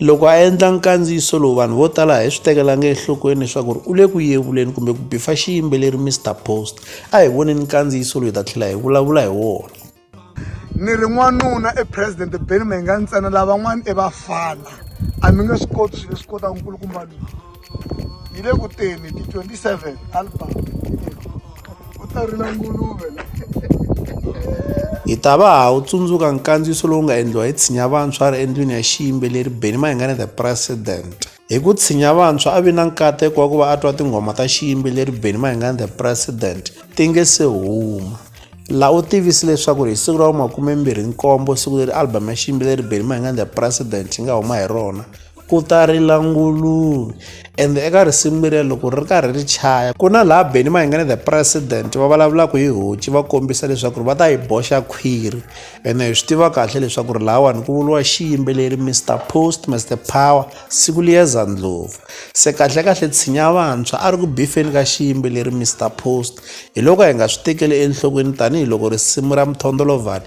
Loko a endla nkandziyiso lowu vanhu vo tala a hi swi tekelanga enhlokweni leswaku ri u le ku yevuleni kumbe ku bifa xiyimbeleri Mister Post. A hi voneni nkandziyiso loyi ta tlhela hi vulavula hi wona. Ni ri n'wanuna i president Benny Mayengani ntsena lavan'wana i vafana a mi nge swi koti swilo leswi kotaka nkulukumba loyi. hi le ku teni ti 27 album u ta rila nguluve hi ta va ha wu tsundzuka nkandziyiso lowu nga endliwa hi tshinya vantshwa a ri endlwini ya xiyimbeleri beni mahingane the president hi ku tshinya vantshwa a vi na nkateko wa ku va a twa tinghoma ta xiyimbeleri beni mahingane the president ti nge se huma laha u tivisi leswaku hi siku ra vumakumembirhi nkombo siku leri album ya xiyimbeleri beni mahingane the president yi nga huma hi rona ku ta rila nguluve and eka risimu leriya loko ri karhi ri chaya ku na laha beni mahingane the president va vulavulaka hi hoci va kombisa leswaku ri va ta yi boxa khwiri ene hi swi tiva kahle leswaku ri lahawani ku vuriwa xiyimbeleri mr post mr power siku liya zandlova se kahlekahle tshinya vantshwa a ri ku bifeni ka xiyimbeleri mr post hi loko hi nga swi tekeli enhlokweni tanihiloko risimu ra muthondolovhani